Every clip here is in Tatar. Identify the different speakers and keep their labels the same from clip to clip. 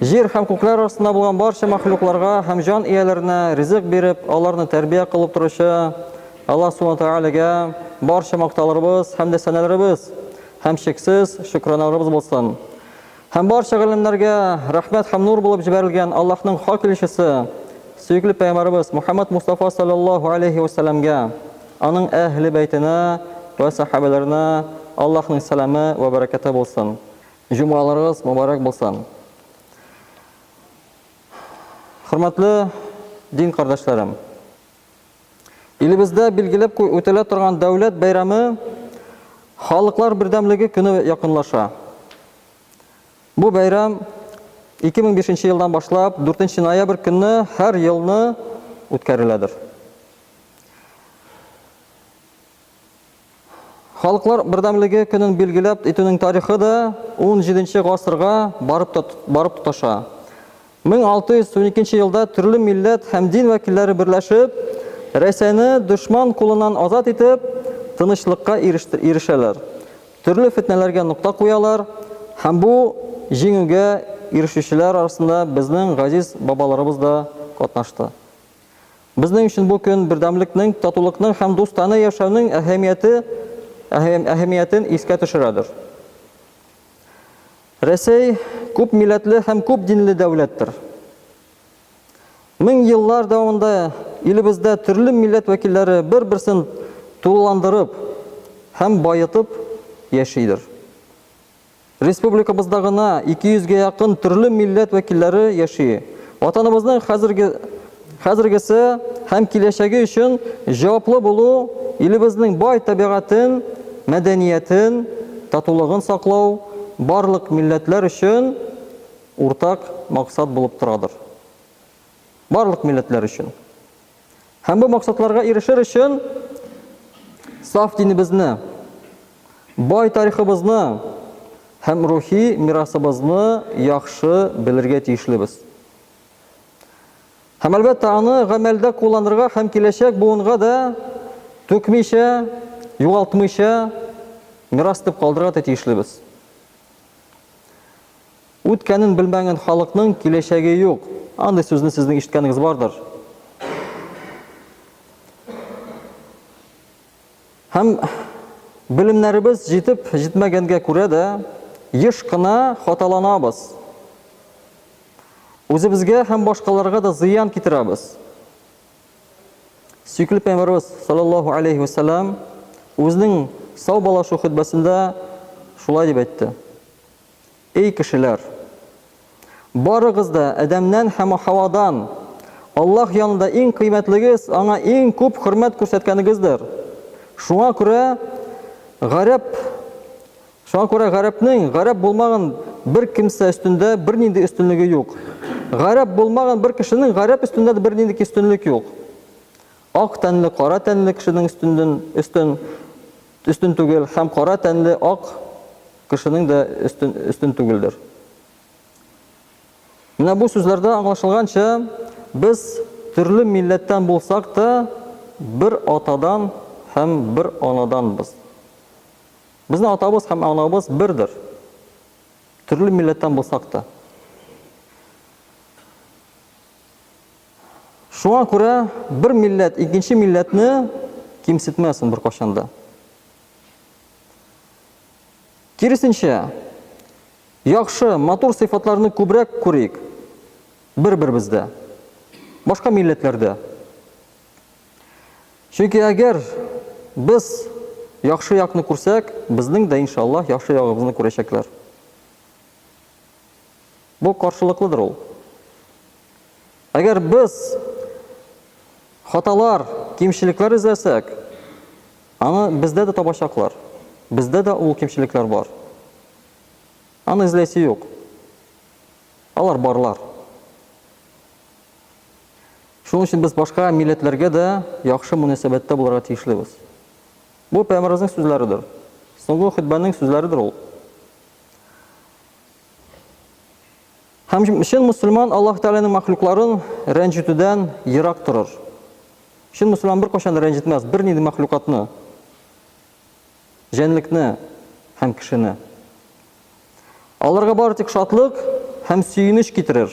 Speaker 1: Җир һәм күкләр астында булган барча мәхлукларга һәм җан ияләренә ризык биреп, аларны тәрбия кылып торучы Аллаһ Субхана Тәгаләгә барча мактауларыбыз һәм дә сәнәләребез һәм чиксез шөкраналарыбыз булсын. Һәм барча галимнәргә рәхмәт һәм нур булып җибәрелгән Аллаһның хак илчесе, сөекле пәйгамбәребез Мухаммад Мустафа салләллаһу алейһи вә сәлләмгә, аның әһле бәйтенә вә сәхабәләренә Аллаһның сәламе вә бәрәкәте булсын. Җомгаларыгыз мобарәк булсын! Хөрмәтле дин кардәшләрем! Илебездә билгеләп үтәлә торган дәүләт бәйрәме Халыклар бердәмлеге көне якынлаша. Бу бәйрәм 2005 нче елдан башлап 4 нче ноябрь көнне һәр елны үткәреләдер. Халыклар бердәмлеге көнен билгеләп итүнең тарихы да унҗиденче гасырга барып барып тоташа. 1612 елда төрле милләт һәм дин вәкилләре берләшеп, Рәсәйне дошман кулыннан азат итеп, тынычлыкка ирешәләр, төрле фетнәләргә нокта куялар һәм бу җиңүгә ирешүчеләр арасында безнең газиз бабаларыбыз да катнашты. Безнең өчен бу көн бердәмлекнең, татулыкның һәм дустана яшәүнең әһәмияте, әһәмиятен искә төшерәдер. Рәсәй күп милләтле һәм күп динле дәүләттер. Мең еллар дәвамында илебездә төрле милләт вәкилләре бер-берсен тулыландырып һәм баетып яшидер. Республикабызда гына 200 гә якын төрле милләт вәкилләре яши. Ватаныбызның хәзерге, хәзергесе һәм киләчәге өчен җаваплы булу, илебезнең бай табигатен, мәдәниятен, татулыгын саклау барлык милләтләр өчен уртак максат булып торадыр. барлык милләтләр өчен. Һәм бу максатларга ирешер өчен саф динебезне, бай тарихыбызны һәм рухи мирасыбызны яхшы белергә тиешлебез. Һәм әлбәттә аны гамәлдә кулланырга һәм киләчәк буынга да түкмичә, югалтмыйча мирас дип калдырырга тиешлебез. Үткәнен белмәгән халыкның киләчәге юк. Андый сүзне сезнең ишеткәнегез бардыр. Һәм белемнәребез җитеп җитмәгәнгә күрә дә, еш кына хаталанабыз. Үзебезгә һәм башкаларга да зыян китерәбез. Сөйкеле пәйгамбәребез саллаллаһу алейһи ва саллям үзенең саубалашу хөтбәсендә шулай дип әйтте. Эй кешеләр! Барыгыз да Адәмнән һәм Һавадан! Аллаһ янында иң кыйммәтлегез аңа иң күп хөрмәт күрсәткәнегездер. Шуңа күрә гарәп Шуңа күрә гарәпнең гарәп булмаган бер кемсә өстендә бернинди өстенлеге юк. Гарәп булмаган бер кешенең гарәп өстендә дә бернинди өстенлек юк. Ак тәнле кара тәнле кешенең өстенден өстен Өстен түгел һәм кара тәнле ак кешенең дә өстен, өстен түгелдер. Менә бу сүзләрдә аңлашылганча, без төрле милләттән булсак та, бер атадан һәм бер анаданбыз. Безнең атабыз һәм анабыз бердер. Төрле милләттән булсак та. Шуңа күрә бер милләт икенче милләтне кимсетмәсен беркайчан да. Киресенчә, яхшы, матур сыйфатларны күбрәк күрик бер-беребездә, башка милләтләрдә. Чөнки әгәр без яхшы якны күрсәк, безнең дә, иншаллаһ, яхшы ягыбызны күрәчәкләр. Бу каршылыклыдыр ул. Әгәр без хаталар, кимчелекләр эзләсәк, аны бездә дә табачаклар. Бездә дә ул кимчелекләр бар. Аны эзләйсе юк. Алар барлар. Шуның өчен без башка милләтләргә дә яхшы мөнәсәбәттә булырга тиешлебез. Бу пәйгамбәребезнең сүзләредер. Соңгы хөтбәнең сүзләредер ул. Һәм чын мусульман Аллаһ Тәгаләнең мәхлукларын рәнҗетүдән ерак торыр. Чын мусульман беркайчан да рәнҗетмәс бернинди мәхлукатны, җәнлекне һәм кешене. Аларга бары тик шатлык һәм сөенеч китерер.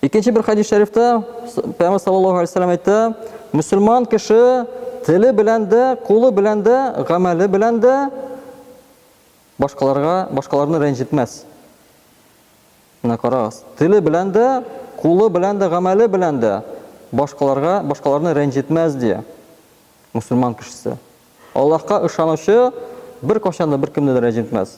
Speaker 1: Икенче бер хадис шәрифтә Пәйгамбәр саллаллаһу алейһи ва әйтә, мусульман кеше теле белән дә, кулы белән дә, гамәле белән дә башкаларга, башкаларны рәнҗетмәс. Менә карагыз, теле белән дә, кулы белән дә, гамәле белән дә башкаларга, башкаларны рәнҗетмәс, ди мусульман кешесе. Аллаһка ышанучы беркайчан да беркемне дә рәнҗетмәс.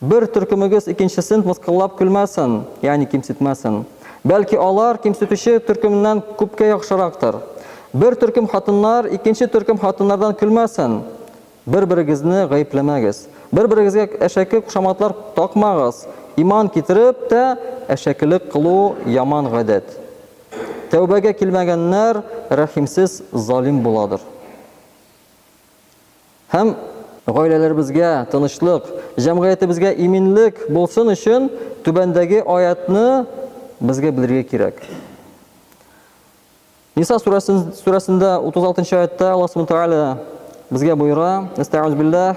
Speaker 1: Бер төркемегез икенчесен мыскыллап көлмәсен, ягъни кимсетмәсен. Бәлки алар кимсетүче төркемнән күпкә яхшырактыр. Бер төркем хатыннар икенче төркем хатыннардан көлмәсен. Бер-берегезне гаепләмәгез. Бер-берегезгә әшәке кушаматлар такмагыз. Иман китереп тә, әшәкелек кылу яман гадәт. Тәүбәгә килмәгәннәр рәхимсез залим буладыр. Һәм гаиләләребезгә тынычлык, җәмгыятебезгә иминлек булсын өчен түбәндәге аятьне безгә белергә кирәк. Ниса сүрәсендә 36 нчы аятьтә Аллаһ Субханаһу ва Тааля безгә боера: "Истәгъүз билләһ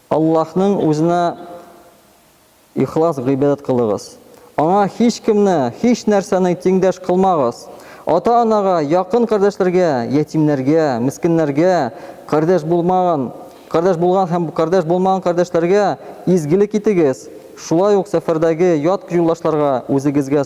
Speaker 1: Аллаһның Үзенә ихлас гыйбадәт кылыгыз. Аңа һичкемне, һичнәрсәне тиңдәш кылмагыз. Ата-анага, якын кардәшләргә, ятимнәргә, мескеннәргә, кардәш булмаган, кардәш булган һәм кардәш булмаган кардәшләргә изгелек итегез, шулай ук сәфәрдәге ят юлдашларга, үзегезгә,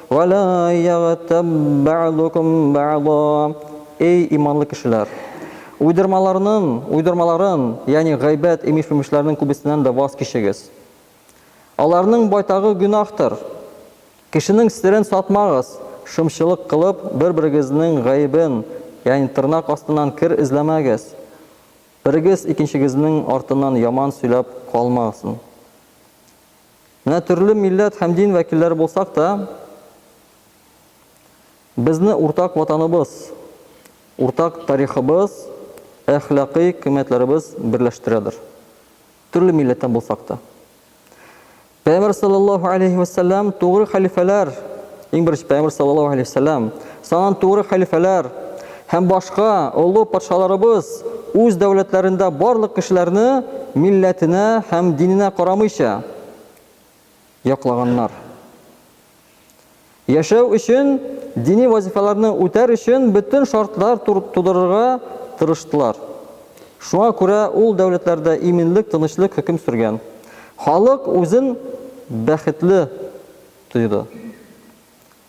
Speaker 1: Вәлә ягътәб бәгъдукум бәгъда. Эй иманлы кешеләр! Уйдырмаларның, уйдырмаларын, ягъни гайбәт, имеш-мимешләрнең күбесеннән дә ваз кичегез. Аларның байтагы гөнаһтыр. Кешенең серен сатмагыз, шымчылык кылып, бер-берегезнең гаебен, ягъни тырнак астыннан кер эзләмәгез. Берегез икенчегезнең артыннан яман сөйләп калмасын. Менә төрле милләт һәм дин вәкилләре булсак та, безне уртак Ватаныбыз, уртак тарихыбыз, әхлакый кыйммәтләребез берләштерәдер. Төрле милләттән булсак та. Пәйгамбәр саллаллаһу алейһи вәссәлам тугры хәлифәләр, иң беренче Пәйгамбәр саллаллаһу алейһи вәссәлам, Санан туры хәлифәләр һәм башка олы патшаларыбыз үз дәүләтләрендә барлык кешеләрне милләтенә һәм диненә карамыйча яклаганнар. Яшәү өчен, дини вазифаларны үтәр өчен бөтен шартлар тудырырга тырыштылар. Шуңа күрә ул дәүләтләрдә иминлек, тынычлык хөкем сөргән. Халык үзен бәхетле тойды.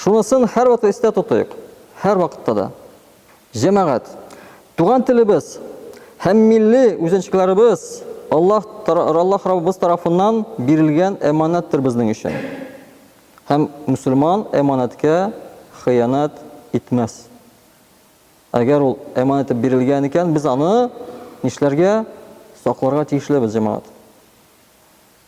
Speaker 1: Шунысын һәрвакыт истә тотыйк, һәрвакытта да, җәмәгать, туган телебез һәм милли үзенчкеләребез Аллаһ Аллаһ Раббыбыз тарафыннан бирелгән әманәттер безнең өчен. Һәм мөселман әманәткә хыянәт итмәс. Әгәр ул әманәт итеп бирелгән икән, без аны нишләргә? Сакларга тиешлебез, җәмәгать.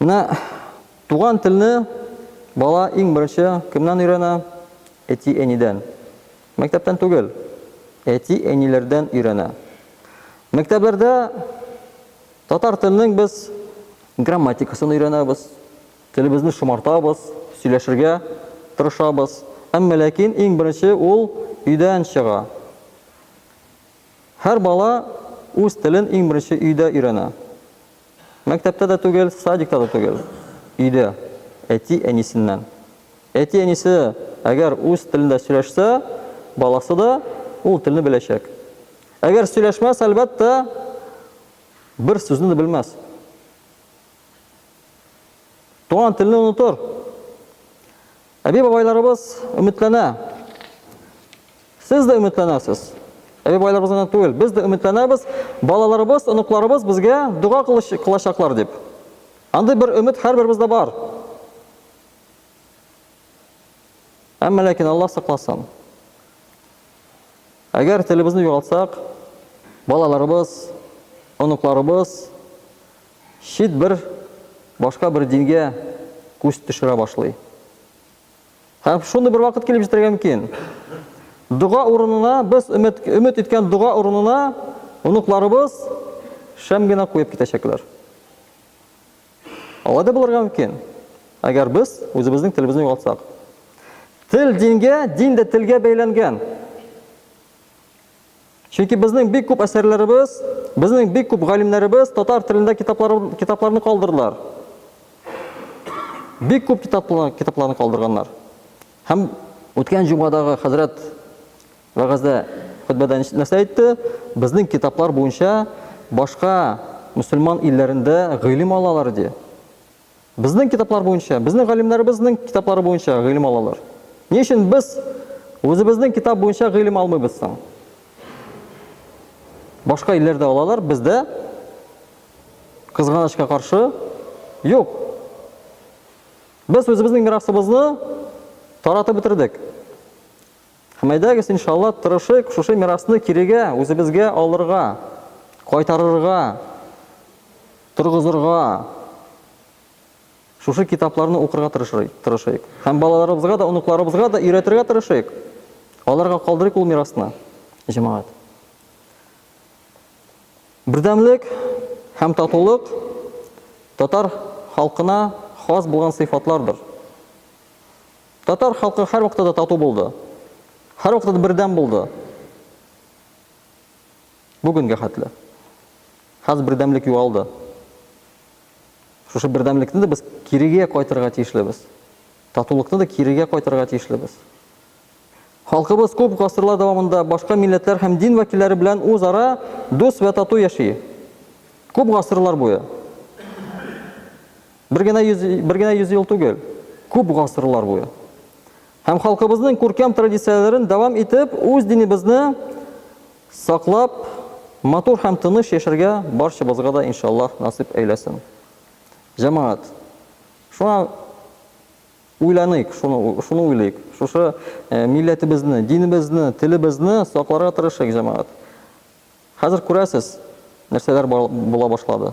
Speaker 1: Менә туган телне бала иң беренче кемнән өйрәнә? Әти-әнидән. Мәктәптән түгел, әти-әниләрдән өйрәнә. Мәктәпләрдә татар теленең без грамматикасын өйрәнәбез, телебезне шомартабыз, сөйләшергә тырышабыз. Әмма ләкин иң беренче ул өйдән чыга. Һәр бала үз телен иң беренче өйдә өйрәнә. Мәктәптә дә түгел, садикта да түгел, өйдә, әти-әнисеннән. Әти-әнисе әгәр үз телендә сөйләшсә, баласы да ул телне беләчәк. Әгәр сөйләшмәс, әлбәттә, бер сүзне дә белмәс. Туган телне онытыр. Әби-бабайларыбыз өметләнә. Сез дә өметләнәсез. Әби-бабайларыбыз гына түгел, без дә өметләнәбез, балаларыбыз, оныкларыбыз безгә дога кылачаклар дип. Андый бер өмет һәрберебездә бар. Әмма ләкин Аллаһ сакласын. Әгәр телебезне югалтсак, балаларыбыз, оныкларыбыз Чит бер башка бер дингә күз төшерә башлый. Һәм шундый бер вакыт килеп җитәргә мөмкин. Дога урынына без өмет, өмет иткән дога урынына оныкларыбыз шәм генә куеп китәчәкләр. Алай да булырга мөмкин, әгәр без үзебезнең телебезне югалтсак. Тел дингә, дин дә телгә бәйләнгән. Чөнки безнең бик күп әсәрләребез, безнең бик күп галимнәребез татар телендә китаплар, китапларны калдырдылар. Бик күп китаплар, китапларны калдырганнар. Һәм үткән җомгадагы хәзрәт вәгазьдә хөтбәдә нәрсә әйтте? Безнең китаплар буенча башка мөселман илләрендә гыйлем алалар ди. Безнең китаплар буенча, безнең галимнәребезнең китаплары буенча гыйлем алалар. Ни өчен без үзебезнең китап буенча гыйлем алмыйбыз соң? Башка илләрдә алалар, бездә кызганычка каршы юк. Без үзебезнең мирасыбызны таратып бетердек. Һәм әйдәгез, иншалла, тырышыйк шушы мирасны кирегә, үзебезгә алырга, кайтарырга, торгызырга, шушы китапларны укырга тырышыйк. Һәм балаларыбызга да, оныкларыбызга да өйрәтергә тырышыйк. Аларга калдырыйк ул мирасны, җәмәгать. Бердәмлек һәм татулык татар халкына хас булган сыйфатлардыр. Татар халкы һәрвакытта да тату булды. Һәрвакытта да бердәм булды. Бүгенгә хәтле. Хәзер бердәмлек югалды. Шушы бердәмлекне дә без кирегә кайтырга тиешлебез. Татулыкны да кирегә кайтырга тиешлебез. Халкыбыз күп гасырлар дәвамында башка милләтләр һәм дин вәкилләре белән үзара дус вә тату яши. Күп гасырлар буе. Бер генә йөз, бер генә йөз ел түгел, күп гасырлар буе. Һәм халкыбызның күркәм традицияләрен дәвам итеп, үз динебезне саклап, матур һәм тыныч яшәргә барчабызга да иншаллаһ насыйп әйләсен. Җәмәгать, шуңа уйланыйк, шуны, шуны уйлыйк. Шушы э, милләтебезне, динебезне, телебезне сакларга тырышыйк, җәмәгать. Хәзер күрәсез, нәрсәләр була башлады.